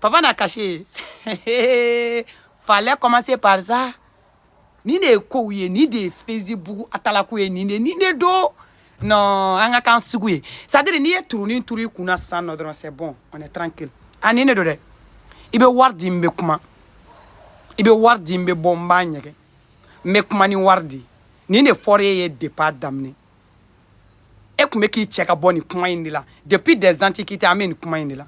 papa na cachet fallait commencer par ça nin de ye kow ye nin de ye facebook atalaku ye nin de nin de don non an ka kan sugu ye c'est à dire n'i ye turunin turu i kun na sisan nɔ dɔrɔn c'est bon on est tranquille a nin de don dɛ i bɛ wari di n bɛ kuma i bɛ wari di n bɛ bɔ n b'a ɲɛgɛn n bɛ kuma ni wari di nin de fɔra e ye départ daminɛ e tun bɛ k'i cɛ ka bɔ nin kuma in de la depuis des antiquités an bɛ nin kuma in de la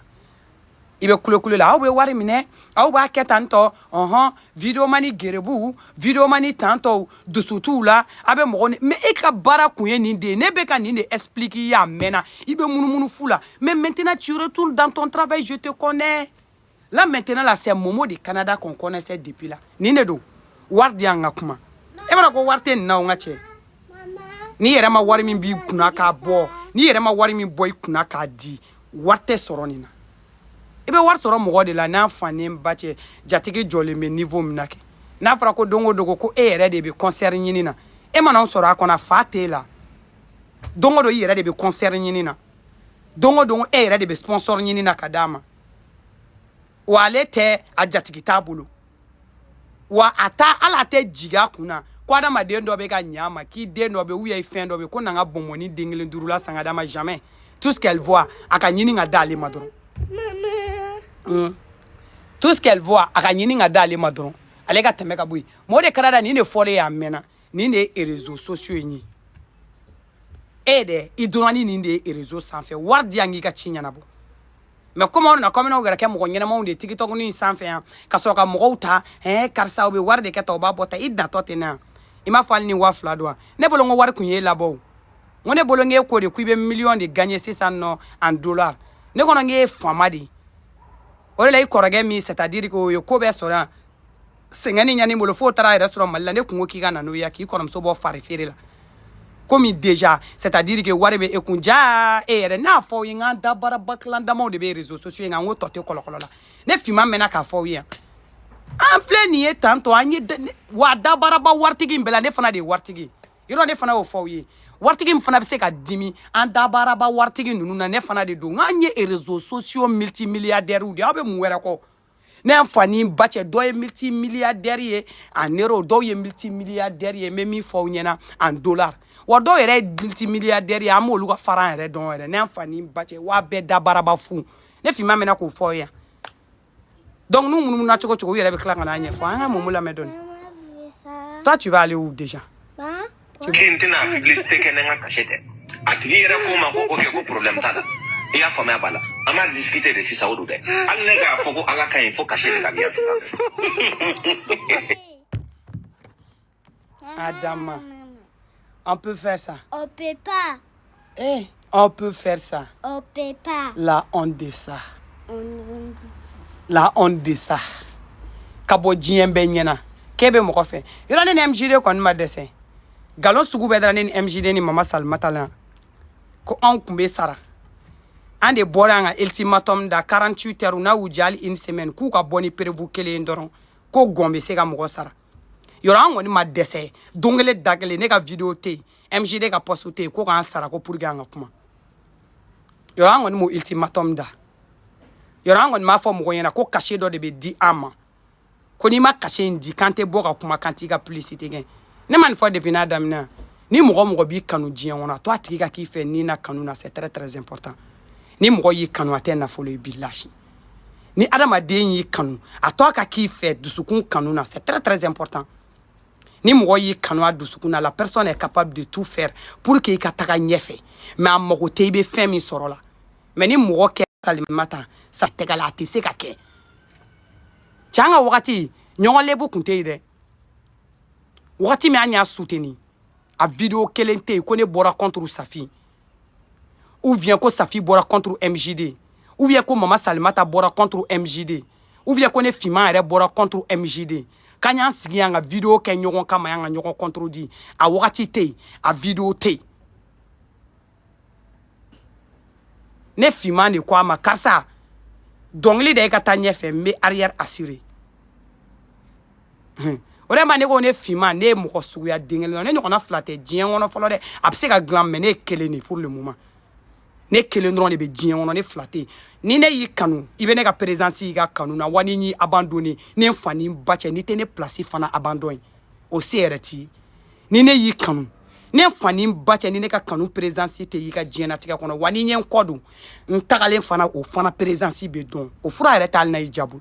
i bɛ kulekule la aw bɛ wari minɛ aw b'a kɛ tan tɔ ɔhɔn videomani gerebuw videomani tan tɔw dusu t'u la a bɛ mɔgɔ ni mais e ka baara kun ye nin de ye ne bɛ ka nin de expliquer i ye a mɛnna i bɛ munumunu fu la mais maintenant tu retournes dans ton travail je te connais là maintenant là c'est momo de canada qu'on connaissait depuis là nin de don wari di an ka kuma e b'a dɔn ko wari tɛ nin na o n ka cɛ n'i yɛrɛ ma wari min b'i kunna k'a bɔ n'i yɛrɛ ma wari min bɔ i kunna k'a di wari tɛ sɔrɔ nin na i bɛ wari sɔrɔ mɔgɔ de la n'a fa ni n ba cɛ jatigi jɔlen bɛ niveau min na kɛ n'a fɔra ko don o don ko e yɛrɛ de bɛ concert ɲini na e mana o sɔrɔ a ko nafa t'e la don o don i yɛrɛ de bɛ concert ɲini na don o don e yɛrɛ de bɛ sponsor ɲini na ka d'a ma wa ale tɛ a jatigi t'a bolo wa a ta ala tɛ jigin a kun na ko adamaden dɔ bɛ ka ɲa ma k'i den dɔ bɛ u ye fɛn dɔ bɛ ko na n ka bɔnbɔnnin den kelen duurula san ka d'a ma jamais tout ce qu'elle voit a ka ɲini ka d'ale ma dɔrɔn hmm. tout ce qu'elle voit a ka ɲini ka d'ale ma dɔrɔn ale ka tɛmɛ ka bɔ yen momo de canada nin de fɔlen y'a mɛnna nin de ye réseaux sociaux in ye e ye dɛ i dɔrɔn ni nin de ye réseaux sanfɛ wari di an k'i ka ci ɲɛnabɔ mais komi aw nana kɔmina yɛrɛ kɛ mɔgɔ ɲɛnamaw de ye tikitɔkuni in sanfɛ yan ka sɔrɔ ka mɔgɔw ta ɛɛ karisa u bɛ wari de kɛ ta u b'a bɔ ta i datɔ ten na yan i m'a fɔ hali ni waa fila don wa ne bolo n ko wari kun ye labɔ o n ko ne bolo n k'e ko de ko i bɛ miliyɔn de gagner sisan nɔ en dollar ne kɔnɔ n k'e ye faama de ye o de la i kɔrɔkɛ min c'est à dire k'o ye ko bɛɛ sɔrɔ yan sɛgɛn ni ɲani bolo f'o taara yɛrɛ sɔrɔ mali la ne kun ko k'i ka na n'o ye k'i kɔrɔmuso bɔ fari feere la comme déjà c'est à dire que wari bɛ e kun ja e yɛrɛ n'a fɔ aw ye n k'an dabaaraba kilan damaw de bɛ réseaux sociaux in kan n ko tɔ tɛ kɔlɔkɔlɔ la ne finman mɛnna k'a fɔ aw ye yan an filɛ nin ye tan tɔ an ye wa dabaaraba waritigi in bɛɛ la ne fana de ye waritigi ye yɔrɔ ne fana y'o fɔ aw ye waritigi min fana bɛ se ka dimi an dabaaraba waritigi ninnu na ne fana de don n k'an ye réseaux sociaux multimilliardaires de aw bɛ mun wɛrɛ kɔ ne y'a fa ni ba cɛ dɔ ye multimilliardaire ye en euro dɔw ye multimilliardaire ye n bɛ min fɔ aw ɲɛna en dollar wa dɔw yɛrɛ ye multimilliardaire ye an b'olu ka fara an yɛrɛ dɔn yɛrɛ ne y'a fa ni ba cɛ wa bɛɛ dabaaraba fu ne finman mɛna k'o fɔ aw ye yan donc n'u munumuna cogo o cogo u yɛrɛ bɛ tila ka n'a ɲɛfɔ an ka momo lamɛn dɔɔni toi tu vas aller où déjà ko n tɛna publicité kɛ ni n ka cachet tɛ a tigi yɛrɛ ko n ma ko ok ko problème t'a la i y'a faamu a b'a la an b'a discuter de sisan o don dɛ hali ne k'a fɔ ko ala ka ɲi fo cachet de ka di yan sisan Adama. On peut faire ça. On peut pas. Eh. On peut faire ça. On peut pas. La honte de ça. On honte de ça. La honte de ça. Ka bɔ diɲɛ bɛɛ ɲɛna k'e bɛ mɔgɔ fɛ yɔrɔ ne ni mjd kɔni ma dɛsɛ nkalon sugu bɛɛ dara ne ni mjd ni mama salimata la ko anw tun bɛ sara an de bɔra an ka ultimatum da 48 heures n'a y'u jali une semaine k'u ka bɔ ni preuve kelen dɔrɔn ko gɔn bɛ se ka mɔgɔ sara yɔrɔ an kɔni ma dɛsɛ don kelen da kelen ne ka video tɛ yen mjd ka poste tɛ yen ko k'an sara ko pour que an ka kuma yɔrɔ an kɔni m'o ultimatum da yɔrɔ an kɔni m'a fɔ mɔgɔ ɲɛna ko cachet dɔ de bɛ di an ma ko n'i ma cachet in di k'an tɛ bɔ ka kuma k'an t'i ka publicité kɛ ne ma nin fɔ depuis n'a daminɛ ni mɔgɔ mɔgɔ b'i kanu diɲɛ kɔnɔ a to a tigi ka k'i fɛ ni na kanu na c'est très très important ni mɔgɔ y'i kanu a tɛ nafolo ye bilahi ni adamaden y'i kanu a to a ka k'i fɛ dusukun kanu na c'est très très important ni mɔgɔ y'i kanu a dusukun na la personne est capable de tout faire pour que i ka taga ɲɛfɛ mais a mago tɛ i bɛ fɛn min sɔrɔ la mais ni mɔgɔ kɛ salimata sa tɛgɛ la a tɛ se ka kɛ cɛ an ka wagati ɲɔgɔn lebu kun tɛ yen dɛ wagati min an y'a soutenir a video kelen tɛ yen ko ne bɔra contre safi ou bien ko safi bɔra contre mjd ou bien ko mama salimata bɔra contre mjd ou bien ko ne finman yɛrɛ bɔra contre mjd k'an y'an sigi yan ka video kɛ ɲɔgɔn kama yan ka ɲɔgɔn contredire a wagati tɛ yen a video tɛ yen ne finman de ko a ma karisa dɔnkili da i ka taa ɲɛfɛ n bɛ arrière assurer o de ma ne ko ne finma ne ye mɔgɔ suguya den kelen ne ɲɔgɔnna fila tɛ diɲɛ kɔnɔ fɔlɔ dɛ a bɛ se ka dilan mais ne ye kelen de pour le moment ne kelen dɔrɔn de bɛ diɲɛ kɔnɔ ne fila tɛ ni ne y'i kanu i bɛ ne ka présence y'i ka kanu na wa ni n y'i abandonner ne n fa ni n ba cɛ n'i tɛ ne place fana abandon ye o se yɛrɛ t'i ye ni ne y'i kanu ne n fa ni n ba cɛ ni ne ka kanu présence tɛ y'i ka diɲɛnatigɛ kɔnɔ wa ni n ye n kɔ don n tagalen fana o fana présence bɛ dɔn o fura yɛrɛ t'ale na y'i jabu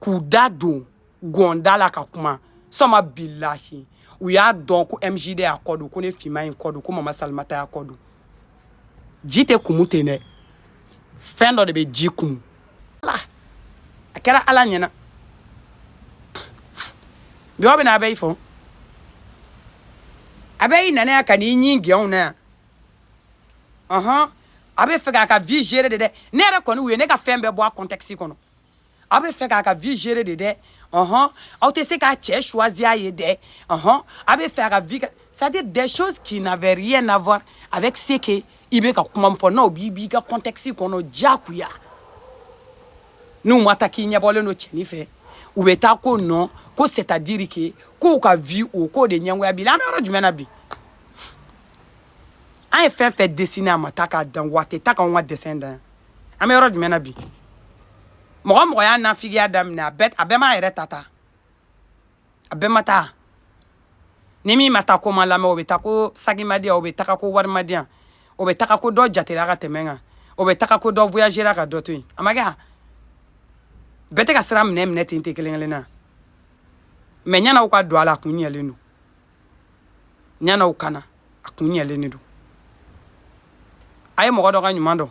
k'u da don gɔn da la ka kuma sama bilahi u y'a dɔn ko mjd y'a kɔ don ko ne finma ye n kɔ don ko mama salimata y'a kɔ don ji tɛ kumu ten dɛ fɛn dɔ de bɛ ji kumu ala a kɛra ala ɲɛna jɔn bɛ na a bɛ i fɔ a bɛ i nanaya ka n'i ɲin gɛnw na yan ɔhɔn a bɛ fɛ k'a ka vie gérer de dɛ ne yɛrɛ kɔni u ye ne ka fɛn bɛɛ bɔ a contexte kɔnɔ a bɛ fɛ k'a ka vie gérer de dɛ ɔhɔn aw tɛ se k'a cɛ choisir a ye dɛ ɔhɔn a bɛ fɛ a ka vie c'est à dire des choses qui n'avaient rien à voir avec ce que i bɛ ka kuma min fɔ na u b'i b'i ka contexte kɔnɔ diyagoya n'u ma taa k'i ɲɛbɔlen don cɛnin fɛ u bɛ taa ko non ko c'est à dire que k'u ka vie o k'o de ɲɛngoya b'i la an bɛ yɔrɔ jumɛn na bi. an ye fɛn fɛn dessiner a ma taa k'a dan wa a tɛ taa k'anw descendre an bɛ yɔrɔ jumɛn na bi mɔgɔ mɔgɔ y'a nafigiya daminɛ a bɛɛ a bɛɛ m'a yɛrɛ ta ta a bɛɛ ma taa ni min ma taa k'o ma lamɛn o bɛ taa ko sagi ma di yan o bɛ taga ko wari ma di yan o bɛ taga ko dɔ jatera ka tɛmɛ kan o bɛ taga ko dɔ voyagera ka dɔ to yen a ma kɛ bɛɛ tɛ ka sira minɛ minɛ ten tɛ kelen kelen na mais ɲɛna u ka don a la a kun ɲɛlen don ɲana u kana a kun ɲɛlen de don a ye mɔgɔ dɔ ka ɲuman dɔn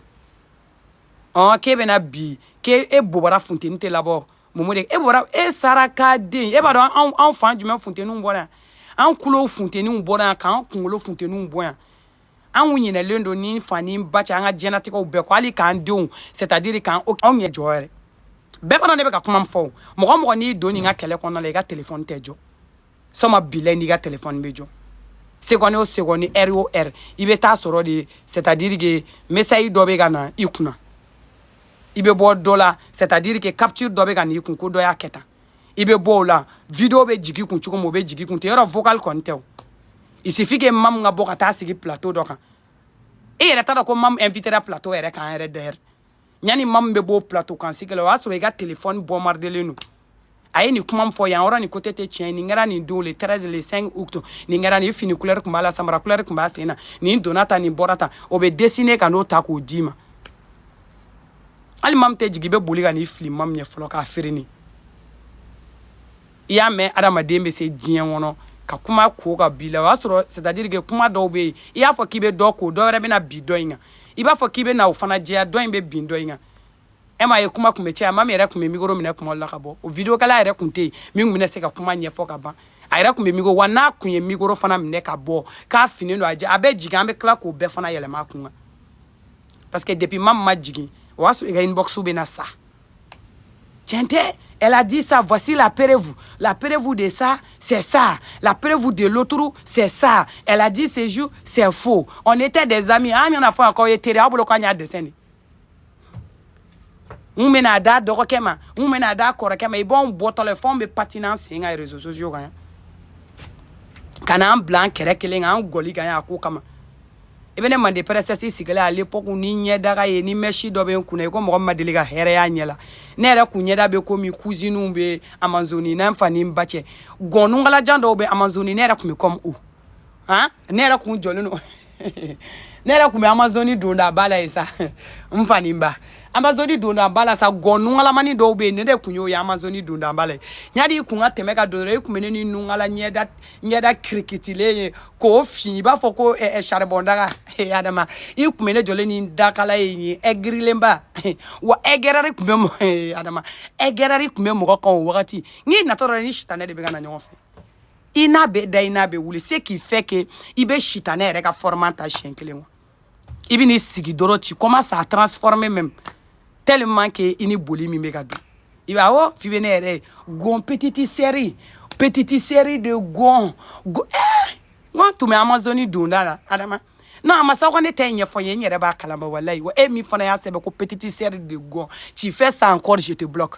ɔn k'e bɛna bi k'e e bobara funteni tɛ labɔ momo de e bɔra e saraka den e b'a dɔn anw anw fan jumɛn funteniw bɔra yan an kulow funteniw bɔra yan k'an kunkolo funteniw bɔ yan an kun ɲinɛlen don ni fa ni ba cɛ an ka diɲɛnatigɛw bɛɛ ko hali k'an denw c'est à dire k'an anw yɛrɛ jɔ yɛrɛ bɛɛ fana ne bɛ ka kuma min fɔ o mɔgɔ mɔgɔ n'i don nin ka kɛlɛ kɔnɔna la i ka telefɔni tɛ jɔ soma bila n'i ka telefɔni bɛ jɔ seconde o seconde heure o heure i bɛ taa sɔrɔ de c'est à dire que message dɔ bɛ ka na i kunna i bɛ bɔ dɔ la c'est à dire que capture dɔ bɛ ka na i kun ko dɔ y'a kɛ tan i bɛ bɔ o la video bɛ jigi kun cogo min o bɛ jigi kun ten yɔrɔ vocal kɔni tɛ o il suffit que mamu ka bɔ ka taa sigi plateau dɔ kan e yɛrɛ t'a dɔn ko mamu invitera plateau yɛrɛ kan yɛrɛ d'ailleurs yani mamu bɛ b'o plateau kan sigi la o y'a sɔrɔ i ka telefɔni bombardélen don a ye nin kuma min fɔ yan yɔrɔ nin côté tɛ tiɲɛ nin kɛra nin don le 13 le 5 août nin kɛra nin fini couleur tun b'a la samara couleur tun b'a sen na nin donna tan nin bɔra tan o bɛ dessiner ka n'o ta k'o d'i ma hali mamu tɛ jigin i bɛ boli ka n'i fili mamu ye fɔlɔ k'a feere nin i y'a mɛn adamaden bɛ se diɲɛ kɔnɔ ka kuma ko ka bi la o y'a sɔrɔ c'est-à-dire que kuma dɔw bɛ yen i y'a fɔ k'i bɛ dɔ ko dɔ wɛrɛ bɛna bi dɔ in kan i b'a fɔ k'i bɛ na o fana jɛya dɔ in bɛ bin dɔ in kan e m'a ye kuma tun bɛ caya mamu yɛrɛ tun bɛ mikoro minɛ kuma la ka bɔ o videokɛla yɛrɛ tun tɛ yen min tun bɛna se ka kuma ɲɛfɔ ka ban a yɛrɛ tun bɛ mikoro wa n'a tun ye mikoro fana minɛ ka bɔ k'a finen don a jɛ a bɛ jigin an bɛ tila k'o bɛɛ fana yɛlɛma a kun kan parce que depuis mamu ma jigin o y'a sɔrɔ i ka inbox bɛ na sa tiɲɛ tɛ Elle a dit ça, voici la preuve. La preuve de ça, c'est ça. La preuve de l'autre, c'est ça. Elle a dit ce jour, c'est faux. On était des amis. An yana fɔ ko ye teri aw bolo k'an y'a descendre. N bɛna da dɔgɔkɛ ma, n bɛna da kɔrɔkɛ ma. I b'anw bɔtɔ la, f'anw bɛ patiner sen kan réseaux sociaux kan yan. Ka n'an bila an kɛrɛ kelen kan, an gɔli kan yan a ko kama. i bɛ ne mande princesse sigilen à l'époque ni ɲɛdaga ye ni mɛsi dɔ bɛ n kunna i ko mɔgɔ ma deli ka hɛrɛ y'a ɲɛ la ne yɛrɛ kun ɲɛda bɛ komi kuziniw bɛ amazoni na n fa ni n ba cɛ gɔn nungalajan dɔw bɛ amazoni ne yɛrɛ kun bɛ kɔmi u han ne yɛrɛ kun jɔlen don ne yɛrɛ kun bɛ amazoni donda ba la ye sa n fa ni n ba amazoni donda ba la sa gɔn nungalamani dɔw bɛ yen ne yɛrɛ kun y'o ye amazoni donda ba la ye yadi i kun ka tɛmɛ ka don dɔrɔn i kun bɛ ne ni nungala ɲɛda ɲɛda kirikitilen ye k'o fin i b'a fɔ ko saribɔndaga adama i kun bɛ ne jɔlen ni dakala ye nin ye ɛgirilenba wa ɛgɛrɛri tun bɛ adama ɛgɛrɛri tun bɛ mɔgɔ kan o wagati n'i natɔ dɔrɔn i ni sitanɛ de bɛ ka na ɲɔgɔn fɛ i n'a bɛ da i n'a bɛ wuli ce qui fait que i bɛ sitanɛ yɛrɛ ka fɔrɔmu ta siɲɛ kelen wa i bɛ n'i sigi dɔrɔn tu commences à transformer même tellement que i ni boli min bɛ ka don i b'a awɔ f'i bɛ ne yɛrɛ ye gon petite sœur petite sœur de gon gon eh n ko tun bɛ amazoni donda la adama non a ma sa ko ne tɛ ɲɛfɔ n ye n yɛrɛ b'a kalama walayi wa e min fana y'a sɛbɛn ko petite sœur de gon tu fais ça encore je te bloque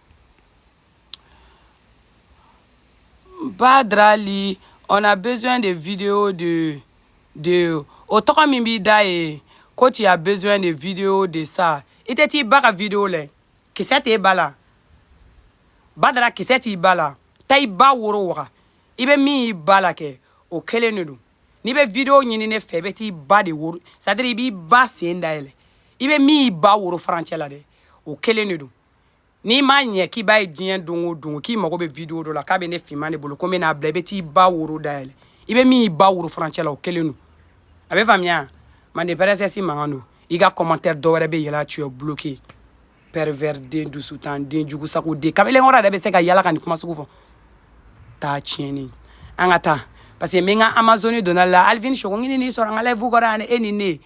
Badrali, on a besoin de vidéos de, de o tɔgɔ min b'i da ye ko tu as besoin de vidéos de ça i tɛ t'i ba ka vidéo lɛ kisɛ t'i ba la badara kisɛ t'i ba la taa i ba woro waga i bɛ min y'i ba la kɛ o kelen de don n'i bɛ vidéo ɲini ne fɛ i bɛ t'i ba de woro c'est à dire i b'i ba sen dayɛlɛ i bɛ min y'i ba woro furancɛ la dɛ o kelen de don n'i m'a ɲɛ k'i b'a ye diɲɛ don o don k'i mago bɛ video dɔ la k'a bɛ ne finman de bolo ko n bɛ n'a bila i bɛ t'i ba woro dayɛlɛ i bɛ min y'i ba woro furancɛ la o kelen don a bɛ faamuya mande princesse mankan don i ka commentaire dɔ wɛrɛ bɛ yɛlɛ tu es bloqué pervers den dusutan den jugu sago den kamalen kɔrɔ yɛrɛ bɛ se ka yala ka nin kuma sugu fɔ taa tiɲɛni an ka taa parce que n bɛ n ka amazoni donda la alvin sogo ɲini n'i sɔrɔ n ka lɛfu kɔrɔ yan e ni ne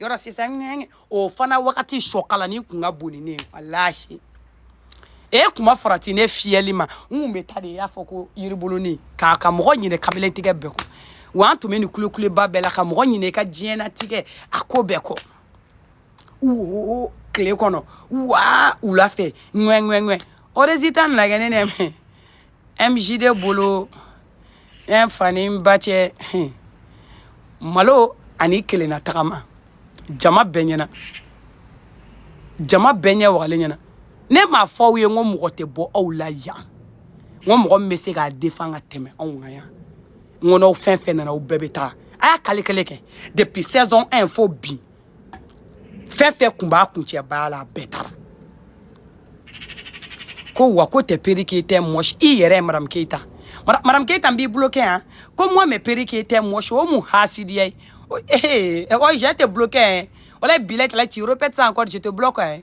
yɔrɔ sisan ŋɛŋɛ o fana wagati sɔkalani kun ka bon ni ne ye walahi e kun ma farati ne fiyɛli ma n kun bɛ taa de i y'a fɔ ko yiribulunin ka mɔgɔ ɲinɛ kabelen tigɛ bɛɛ kɔ wa an tun bɛ nin kulekuleba bɛɛ la ka mɔgɔ ɲinɛ i ka diɲɛnatigɛ a ko bɛɛ kɔ wo tile kɔnɔ wa wula fɛ ŋɛŋɛŋɛ o résultat nana kɛ ne nɛmɛ MJD bolo ne fa ni n ba cɛ hun, malo ani i kelenna tagama jama bɛɛ ɲɛna jama bɛɛ ɲɛ wagalen ɲɛna ne m'a fɔ aw ye n ko mɔgɔ tɛ bɔ aw la yan n ko mɔgɔ min bɛ se k'a defan ka tɛmɛ anw kan yan n ko n'aw fɛn fɛn nana aw bɛɛ bɛ taa a y'a kelen kelen kɛ depuis saison 1 fo bi fɛn fɛn kun b'a kun cɛ baara la a bɛɛ taara ko wa ko tɛ peri keyita mɔgɔ si i yɛrɛ ye madamu keyita madamu keyita b'i bolo kɛ yan ko mɔɔ mɛ peri keyita mɔgɔ si o mun hasidiya ye ee ɔ jɛ tɛ bolo kɛ yan wala bila kɛlɛ ci yɔrɔ pɛtɛ san kɔrɔ jɛ tɛ bolo kɛ yan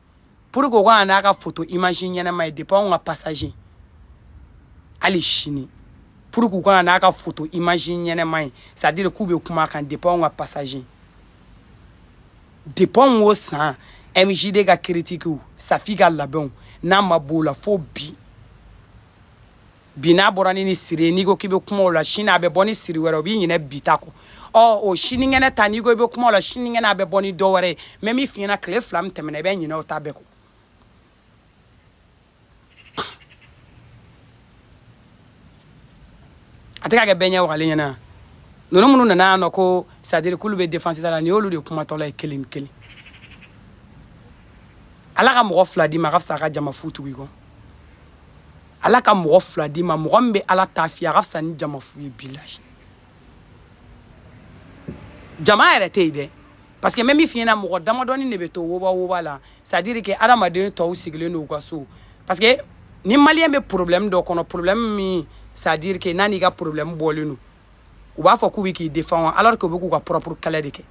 pour que u kana n'a ka photo image ɲɛnama ye depuis anw ka passage hali sini pour que u kana n'a ka photo image ɲɛnama ye c'est à dire k'u bɛ kuma kan depuis anw ka passage depuis o san mjd ka critiquew safi ka labɛnw n'a ma b'o la fo bi bi n'a bɔra ni ni siri ye n'i ko k'i bɛ kuma o la sini a bɛ bɔ ni siri wɛrɛ o b'i ɲinɛ bi ta kɔ ɔ o sinikɛnɛ ta n'i ko i bɛ kuma o la sinikɛnɛ a bɛ bɔ ni dɔ wɛrɛ ye même min fiɲɛna tile fila min tɛmɛna i bɛ ɲinɛ o ta bɛɛ kɔ a tɛ ka kɛ bɛɛ ɲɛ wagalen ɲɛna ninnu minnu nana yan nɔ ko c'est à dire k'olu bɛ défense da la nin y'olu de kumatɔla ye kelen kelen ala ka mɔgɔ fila d'i ma a ka fisa ka jama fu tugu i kɔ ala ka mɔgɔ fila d'i ma mɔgɔ min bɛ ala ta f'i a ka fisa ni jama fu ye bilahi jama yɛrɛ tɛ yen dɛ parce que même min fiɲɛna mɔgɔ damadɔni de bɛ to woba woba la c'est à dire que adamaden tɔw sigilen don u ka so parce que ni maliyɛn bɛ problème dɔ kɔnɔ problème min c'est à dire que n'a n'i ka problème bɔlen don u b'a fɔ k'u bɛ k'i défendre alors que u bɛ k'u ka propre kɛlɛ de kɛ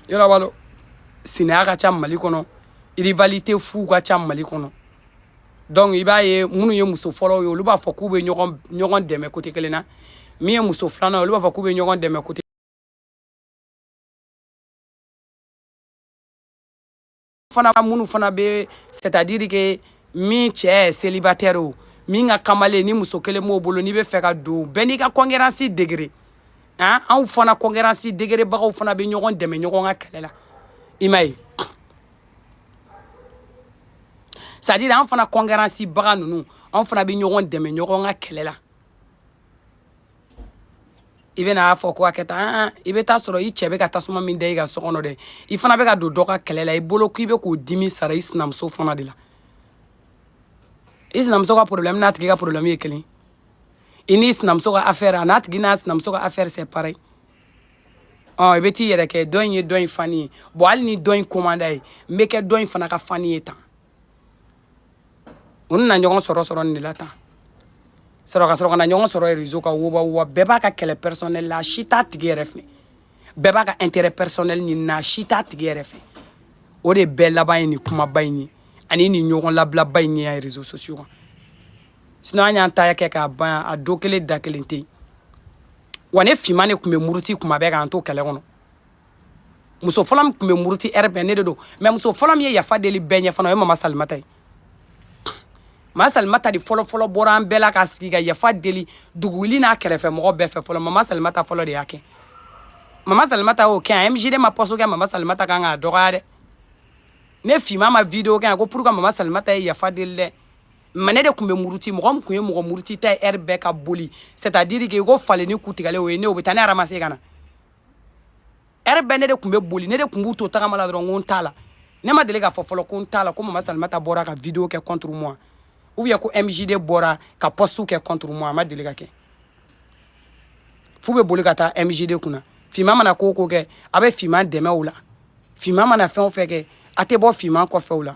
i yɛrɛ b'a dɔn sinaya ka ca mali kɔnɔ rivalité fu ka ca mali kɔnɔ donc i b'a ye minnu ye muso fɔlɔw ye olu b'a fɔ k'u bɛ ɲɔgɔn ɲɔgɔn dɛmɛ côté kelen na min ye muso filanan ye olu b'a fɔ k'u bɛ ɲɔgɔn dɛmɛ côté fana minnu fana bɛ c'est à dire que min cɛ ye célibataire o min ka kamalen ni muso kelen b'o bolo n'i bɛ fɛ ka don bɛɛ n'i ka concurrence degré an anw fana concurrence degerebagaw fana bɛ ɲɔgɔn dɛmɛ ɲɔgɔn ka kɛlɛ la i m'a ye c'est à dire an fana concurrence baga ninnu anw fana bɛ ɲɔgɔn dɛmɛ ɲɔgɔn ka kɛlɛ la i bɛ n'a fɔ ko a kɛ tan i bɛ taa sɔrɔ i cɛ bɛ ka tasuma min da i ka so kɔnɔ dɛ i fana bɛ ka don dɔ ka kɛlɛ la i bolo k'i bɛ k'o dimi sara i sinamuso fana de la i sinamuso ka problème n'a tigi ka problème ye kelen i n'i sinamuso ka affaire a n'a tigi n'a sinamuso ka affaire c'est pareil ɔ i bɛ t'i yɛrɛ kɛ dɔ in ye dɔ in fan ye bon hali ni dɔ in ko man d'a ye n bɛ kɛ dɔ in fana ka fan ye tan u nana ɲɔgɔn sɔrɔ sɔrɔ nin de la tan sɔrɔ ka sɔrɔ ka na ɲɔgɔn sɔrɔ réseau kan woba woba bɛɛ b'a ka kɛlɛ personnel la si t'a tigi yɛrɛ fɛ bɛɛ b'a ka intérêt personnel ɲini na si t'a tigi yɛrɛ fɛ o de bɛɛ laban ye nin kumaba in ye ani nin ɲɔgɔn labilaba in ye yan réseaux sociaux kan sinon an y'an ta kɛ k'a ban a don kelen da kelen tɛ yen wa ne finman de tun bɛ muruti kuma bɛɛ k'an to kɛlɛ kɔnɔ muso fɔlɔ min tun bɛ muruti heure bɛɛ ne de don mais muso fɔlɔ min ye yafa deli bɛɛ ɲɛ fana o ye mama salimata ye mama salimata de fɔlɔ fɔlɔ bɔra an bɛɛ la ka sigi ka yafa deli duguwuli n'a kɛrɛfɛ mɔgɔ bɛɛ fɛ fɔlɔ mama salimata fɔlɔ de y'a kɛ mama salimata y'o kɛ yan mjd ma poste kɛ mama salimata kan k'a dɔgɔya dɛ ne finman ma video kɛ yan ko pour que mama salimata ye yafa deli dɛ mais ne de tun bɛ muruti mɔgɔ min tun ye mɔgɔ muruti ta ye heure bɛɛ ka boli c'est à dire que i ko falinin ku tigɛlen o ye ne o bɛ taa ne ramasser ka na heure bɛɛ ne de tun bɛ boli ne de tun b'u to tagama la dɔrɔn ko n t'a la ne ma deli k'a fɔ fɔlɔ ko n t'a la ko mama salimata bɔra ka video kɛ contre moi ou bien ko mjd bɔra ka poste kɛ contre moi a ma deli ka kɛ f'u bɛ boli ka taa mjd kunna finman mana ko o ko kɛ a bɛ finman dɛmɛ o la finman mana fɛn o fɛn kɛ a tɛ bɔ finman kɔfɛ o la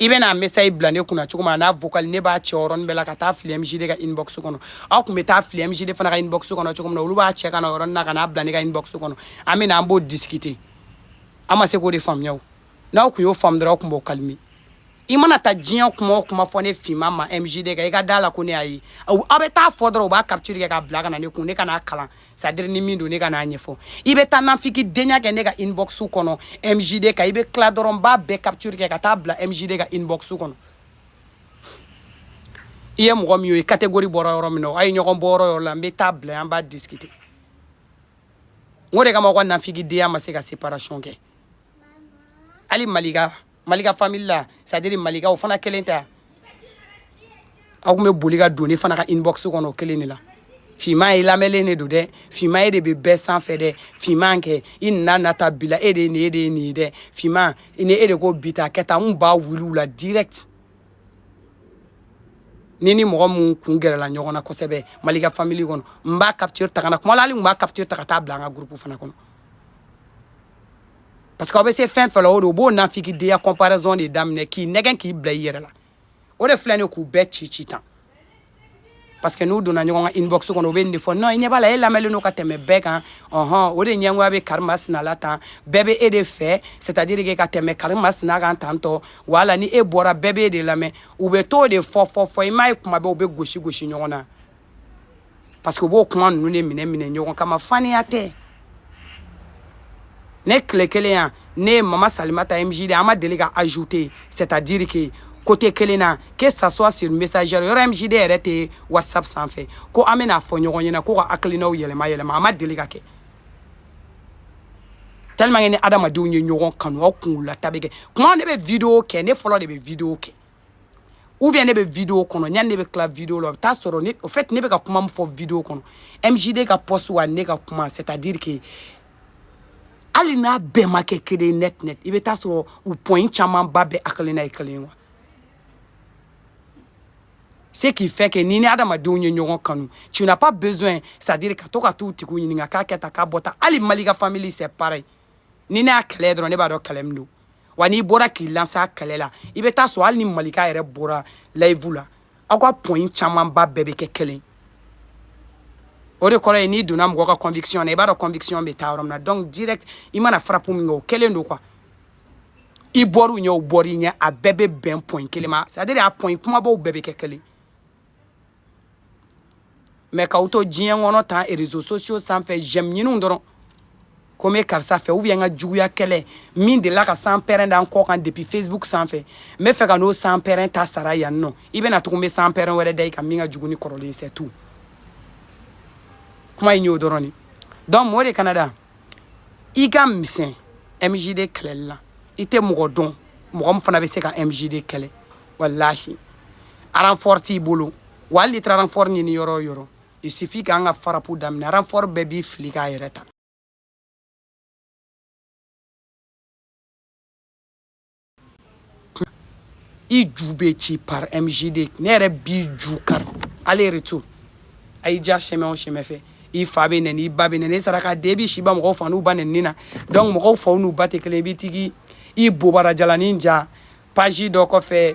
i bɛ n'a message bila ne kunna cogo min na n'a vocal ne b'a cɛ yɔrɔnin bɛɛ la ka taa fili MJD ka inbox kɔnɔ aw tun bɛ taa fili MJD fana ka inbox kɔnɔ cogo min na olu b'a cɛ ka na o yɔrɔnin na ka n'a bila ne ka inbox kɔnɔ an bɛ na an b'o discuter an ma se k'o de faamuya o n'aw tun y'o faamu dɔrɔn aw tun b'o calmer i mana taa diɲɛ kuma o kuma fɔ ne finman ma MJD kan i ka da la ko ne y'a ye aw bɛ taa fɔ dɔrɔn u b'a capture kɛ k'a bila ka na ne kun ne ka n'a kalan c'est à dire ni min don ne ka n'a ɲɛfɔ i bɛ taa nafigidenya kɛ ne ka inbox kɔnɔ mjd kan i bɛ tila dɔrɔn n b'a bɛɛ capture kɛ ka taa bila mjd ka inbox kɔnɔ i ye mɔgɔ min ye catégorie bɔra yɔrɔ min na a ye ɲɔgɔn bɔ yɔrɔ yɔrɔ la n bɛ taa bila an b'a discuter n k'o de kama aw ka nafigidenya ma se ka séparation kɛ hali malika malika famille la c'est à dire malika o fana kelen tɛ aw tun bɛ boli ka don ne fana ka inbox kɔnɔ o kelen de la finman e lamɛnlen de don dɛ finman e de bɛ bɛɛ sanfɛ dɛ finman kɛ i nana nata bila e de ye nin ye e de ye nin ye dɛ finman ni e de ko bi ta kɛ tan n b'a wuli u la direct ni ni mɔgɔ min kun gɛrɛla ɲɔgɔn na kosɛbɛ malika famille kɔnɔ n b'a capture ta ka na kuma la hali n b'a capture ta ka taa bila an ka groupe fana kɔnɔ parce que aw bɛ se fɛn fɛn la o de o b'o nafigidenya comparaison de daminɛ k'i nɛgɛn k'i bila i yɛrɛ la o de filɛ nin ye k'u bɛɛ ci ci tan parce que n'u donna ɲɔgɔn ka inbox kɔnɔ u bɛ nin de fɔ non i ɲɛ b'a la e lamɛnlen don ka tɛmɛ bɛɛ kan ɔhɔn o de ɲɛngoya bɛ kari masina la tan bɛɛ bɛ e de fɛ c'est à dire que ka tɛmɛ kari masina kan tan tɔ wala ni e bɔra bɛɛ b'e de lamɛn u bɛ t'o de fɔ fɔ fɔ i m'a ye kuma bɛɛ u bɛ gosi gosi ɲɔgɔn na parce que u b'o kuma ninnu de minɛ minɛ ɲɔgɔn kama faniya tɛ ne tile kelen yan ne ye mama salimata mjd an ma deli ka ajouter c'est à dire que côté kelen na que ça soit sur messenger yɔrɔ mjd yɛrɛ tɛ whatsapp sanfɛ ko an bɛna fɔ ɲɔgɔn ɲɛna ko ka hakilinaw yɛlɛma yɛlɛma a ma deli ka kɛ tellement que ni adamadenw ye ɲɔgɔn kanu aw kunkololata bɛ kɛ kuma ne bɛ video kɛ ne fɔlɔ de bɛ video kɛ ou bien ne bɛ video kɔnɔ yani ne bɛ tila video la o bɛ taa sɔrɔ ne au fait ne bɛ ka kuma min fɔ video kɔnɔ MJD ka poste wa ne ka kuma c'est à dire que hali n'a bɛɛ ma kɛ kelen ye net net i bɛ taa sɔrɔ u point camanba bɛɛ hakilina ye kelen ye wa ce qui fait que ni ni adamadenw ye ɲɔgɔn kanu tu n'as pas besoin c'est à dire ka to ka t'u tigiw ɲininka k'a kɛ tan k'a bɔ tan hali malika famille c'est pareil ni ne y'a kɛlɛ dɔrɔn ne b'a dɔn kɛlɛ min don wa n'i bɔra k'i lanse kɛlɛ la i bɛ taa sɔrɔ hali ni malika yɛrɛ bɔra live la aw ka point camanba bɛɛ bɛ kɛ kelen o de kɔrɔ ye n'i donna mɔgɔ ka conviction na i b'a dɔn conviction bɛ taa yɔrɔ min na donc direct i mana frappe min kɛ o kelen don quoi i bɔr'u ɲɛ o bɔr'i ɲɛ a bɛɛ bɛ bɛn point kelen ma c'est à dire a point kunbabaw bɛɛ bɛ kɛ kelen mais k'aw to diɲɛ kɔnɔ tan réseaux sociaux sanfɛ j'aime ɲininw dɔrɔn ko n bɛ karisa fɛ ou bien n ka juguya kɛlɛ min delila ka sanpɛrɛn da n kɔ kan depuis facebook sanfɛ n bɛ fɛ ka n'o sanpɛrɛn ta sara yan non i bɛna tugun n bɛ sanpɛrɛn wɛrɛ da i kan min ka jugu ni kɔrɔlen c'est tout kuma in y'o dɔrɔn de donc mɔmɔ de kanada i ka misɛn mjd kɛlɛli la i tɛ mɔgɔ dɔn mɔgɔ min fana bɛ se ka mjd kɛlɛ walahi aranfɔri t'i bolo wa hali n'i taara aranfɔri ɲini yɔrɔ o yɔrɔ il suffit k'an ka farapu daminɛ aranfɔri bɛɛ b'i fili k'a yɛrɛ ta i ju bɛ ci par mjd ne yɛrɛ b'i ju kari aller retour a y'i diya chemin o chemin fɛ i fa bɛ nɛni i ba bɛ nɛni i saraka den i b'i si ban mɔgɔw fa n'u ba nɛni na donc mɔgɔw faw n'u ba tɛ kelen i b'i tigi i bobara jalani ja page dɔ kɔfɛ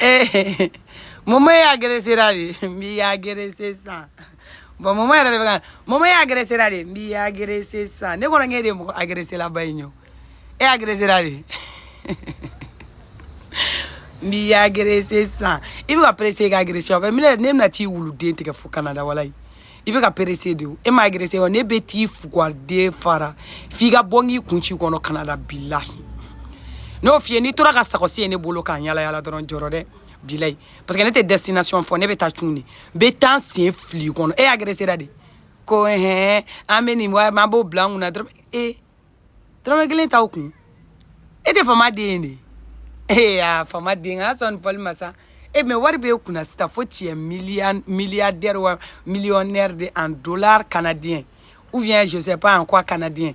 ee mɔmɔ i agresera de n b'i agrese san bon mɔmɔ yɛrɛ de bɛ ka mɔmɔ i agresera de n b'i agrese san ne kɔni k'e de ye mɔgɔ agreselaba in ye o e agresera de n b'i agrese san i bɛ ka perese k'agrese o bɛ minɛ ne bɛna t'i wuluden tigɛ fo kanada walayi i bɛ ka perese de o e ma agrese wa ne bɛ t'i fugaden fara f'i ka bɔ n k'i kun ci kɔnɔ kanada bilahi n y'o f'i ye n'i tora ka sakɔsi ye ne bolo ka yaala yaala dɔrɔn jɔrɔ dɛ bilayi parce que ne tɛ destination fɔ ne bɛ taa cun de n bɛ taa n sen fili kɔnɔ e agresera de ko hɛn an bɛ nin wa an b'o bila n kunna dɔrɔmɛ dɔrɔmɛ kelen t'aw kun e tɛ fama den ye de ee a fama den a sɔn foli ma sa e mɛ wari bɛ e kunna sisan fo tiɲɛ miliyɔn milliardaire wa millionnaire de en dollar canadien ou bien je sais pas en quoi canadien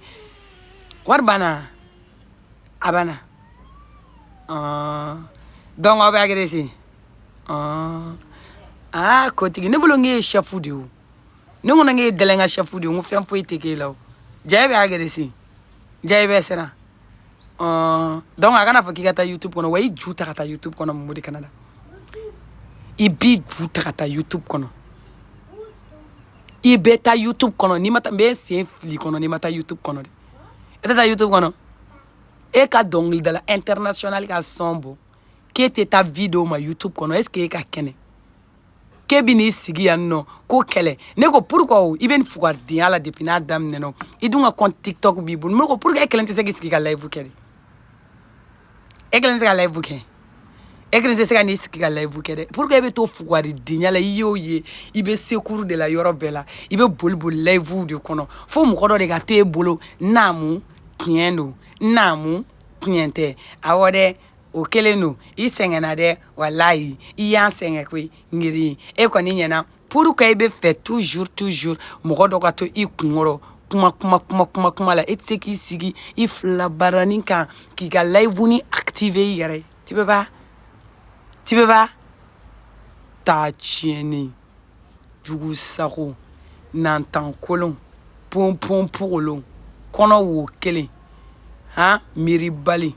wari banna a banna donc aw bɛ agrese aa kotigi ne bolo n k'e ye sɛfu de ye o ne ko ne k'e dɛlɛ ka chef de ye n ko fɛn foyi tɛ k'e la o jaa e bɛ agresser jaa e bɛ siran donc a kana fɔ k'i ka taa youtube kɔnɔ wa i ju ta ka taa youtube kɔnɔ mun de kana na i b'i ju ta ka taa youtube kɔnɔ i bɛ taa youtube kɔnɔ n'i ma taa n bɛ sen fili kɔnɔ n'i ma taa youtube kɔnɔ de e tɛ taa youtube kɔnɔ e ka dɔnkilidala international ka son bɔ k'e tɛ taa video ma youtube kɔnɔ est ce que e ka kɛnɛ k'e bɛ n'i sigi yan nɔ ko kɛlɛ ne ko pourquoi o i bɛ nin fugaridenya la depuis n'a daminɛna o i dun ka compte tiktok b'i bolo ne ko pourquoi e kelen tɛ se k'i sigi ka live kɛ de e kelen tɛ se ka live kɛ e kelen tɛ se ka n'i sigi ka live kɛ dɛ pourquoi e bɛ to fugaridenya la i y'o ye i bɛ secours de la yɔrɔ bɛɛ la i bɛ boli boli live de kɔnɔ fo mɔgɔ dɔ de ka to e bolo naamu tiɲɛ don naamu tiɲɛ tɛ awɔ dɛ o kelen don i sɛgɛnna dɛ walayi i y'an sɛgɛn koyi ngiri e kɔni ɲɛna pour que i bɛ fɛ toujours toujours mɔgɔ dɔ ka to i kunkɔrɔ kuma kuma kuma kuma kuma la e tɛ se k'i sigi i filabarani kan k'i ka live nin activer i yɛrɛ ye tu peux pas tu peux pas taa tiɲɛni jugu sago nantan kolon ponpon pogolon kɔnɔ wo kelen han miiribali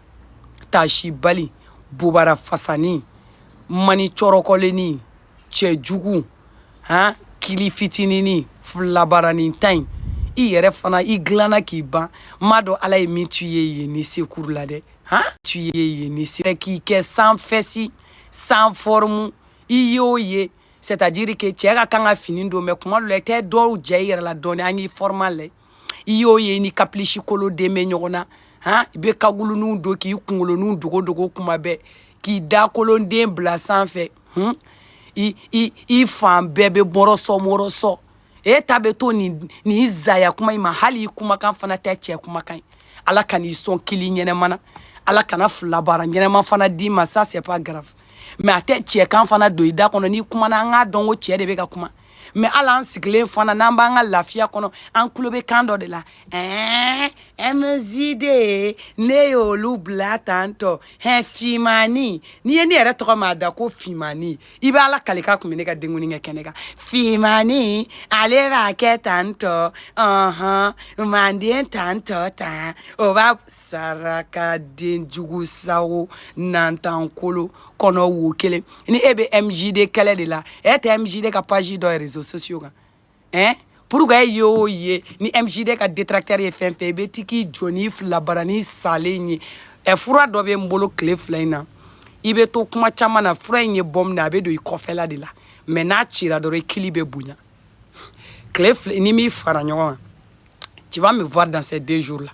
tasibali bobara fasani mani cɔrɔkɔlenni cɛ jugu han kili fitinini filabaranin ta in i yɛrɛ fana i dilanna k'i ban m'a dɔn ala ye min t'i ye yen ni senkuru la dɛ han t'i ye yen ni sen k'i kɛ sans fesse sans forme i y'o ye c'est à dire que cɛ ka kan ka fini don mais kuma dɔ la i tɛ dɔw jɛ i yɛrɛ la dɔɔni an y'i forme lajɛ i y'o ye ni kapilisi kolo den bɛ ɲɔgɔn na han i bɛ kaguluniw don k'i kunkoloninw dogo dogo kuma bɛɛ k'i dakolonden bila sanfɛ hun i i i fan bɛɛ bɛ morceau morceau e ta bɛ to nin nin zaya kuma in ma hali i kumakan fana tɛ cɛ kumakan ye ala kan'i sɔn kili ɲɛnama na ala kana filabara ɲɛnama fana d'i ma ça c'est pas grave mais a tɛ cɛkan fana don i da kɔnɔ n'i kumana an k'a dɔn ko cɛ de bɛ ka kuma mais ala an sigilen fana n'an b'an ka lafiya kɔnɔ an tulo bɛ kan dɔ de la ɛɛ mjd ne y'olu bila tan tɔ hɛ fimani n'i ye ne yɛrɛ tɔgɔ ma da ko fimani i bɛ ala kali k'a kun bɛ ne ka denkundi kɛ kɛnɛ kan fimani ale b'a kɛ tan tɔ ɔhɔn manden tan tɔ tan o b'a saraka den jugu sago nantan kolo kɔnɔ wo kelen ni e bɛ mjd kɛlɛ de la e tɛ mjd ka page dɔn réseaux sociaux kan ɛn pourquoi e ye o ye ni mjd ka détracteur ye fɛn fɛn i bɛ ti k'i jɔ n'i filabarani salen ye ɛ fura dɔ bɛ n bolo tile fila in na i bɛ to kuma caman na fura in ye bombe a bɛ don i kɔfɛla de la mais n'a cira dɔrɔn i kili bɛ bonya tile fila ni n m'i fara ɲɔgɔn kan tu vas me voir dans ces deux jours là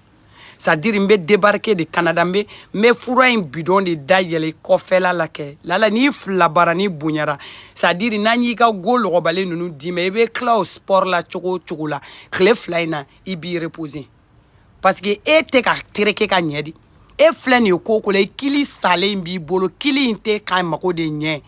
c'est à dire n bɛ débarquer de canada n bɛ n bɛ fura in bidɔn de da yɛlɛ kɔfɛla la kɛ lala n'i filabarani bonyara c'est à dire n'an y'i ka go lɔgɔbalen ninnu d'i ma i bɛ tila o sport la cogo o cogo la tile fila in na i b'i reposer parce que e tɛ ka tereke ka ɲɛ de e filɛ nin ye ko o ko la i kili salen b'i bolo kili in tɛ k'a mago de ɲɛ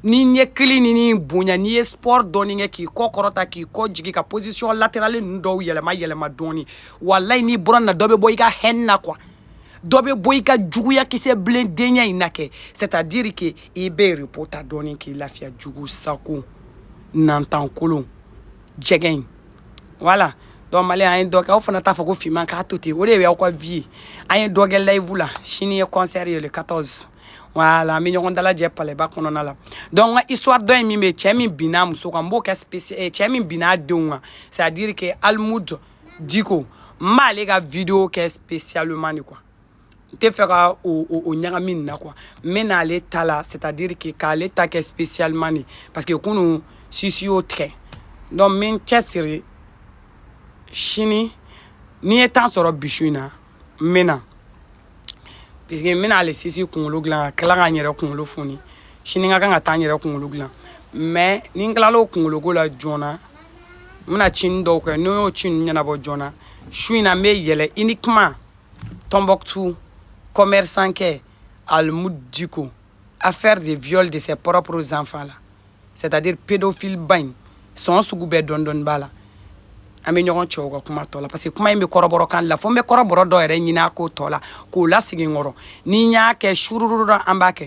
ni n y'e kilini nin bonya n'i ye sport dɔɔni kɛ k'i kɔ kɔrɔta k'i kɔ jigin ka position latérale ninnu dɔw yɛlɛma yɛlɛma dɔɔni walayi n'i bɔra nin na dɔ bɛ bɔ i ka haine na quoi dɔ bɛ bɔ i ka juguya kisɛ bilen denya in na kɛ c'est à dire que i bɛ repos ta dɔɔni k'i lafiya jugu sako nantan kolon jɛgɛ in voilà donc malien an ye dɔ kɛ aw fana t'a fɔ ko finman k'a to ten o de y'aw ka vie ye an ye dɔ kɛ live la sini ye concert ye le 14 voilà an bɛ ɲɔgɔn dalajɛ palɛba kɔnɔna la donc n ka histoire dɔ in min bɛ cɛ min binna muso kan n b'o kɛ spécial eh, cɛ min binna denw kan c'est à dire que almoud dicko n b'ale ka vidéo kɛ spécialement de quoi n tɛ fɛ ka o o o ɲagami nin na quoi n bɛ n'ale ta la c'est à dire que k'ale ta kɛ spécialement de parce que kunu sisi y'o tigɛ donc n bɛ n cɛsiri sini ni n ye temps sɔrɔ bi su in na n bɛ na. puisque n bɛna ale sisi kunkolo dilan ka tila ka n yɛrɛ kunkolo foni sini n ka kan ka taa n yɛrɛ kunkolo dilan mais ni n tilala o kunkoloko la joona n bɛna cinin dɔw kɛ ni n y'o ci ninnu ɲɛnabɔ joona su in na n bɛ yɛlɛ uniquement tombouctou commerçantkɛ almoud dicko affaire de viol de ses propres enfants là c'est à dire pédophile ba in sɔn sugu bɛɛ dɔɔni dɔɔni b'a la an bɛ ɲɔgɔn cɛw ka kuma tɔ la parce que kuma in bɛ kɔrɔbɔrɔ kan la fo n bɛ kɔrɔbɔrɔ dɔ yɛrɛ ɲini a ko tɔ la k'o lasigi n kɔrɔ ni n y'a kɛ surururu an b'a kɛ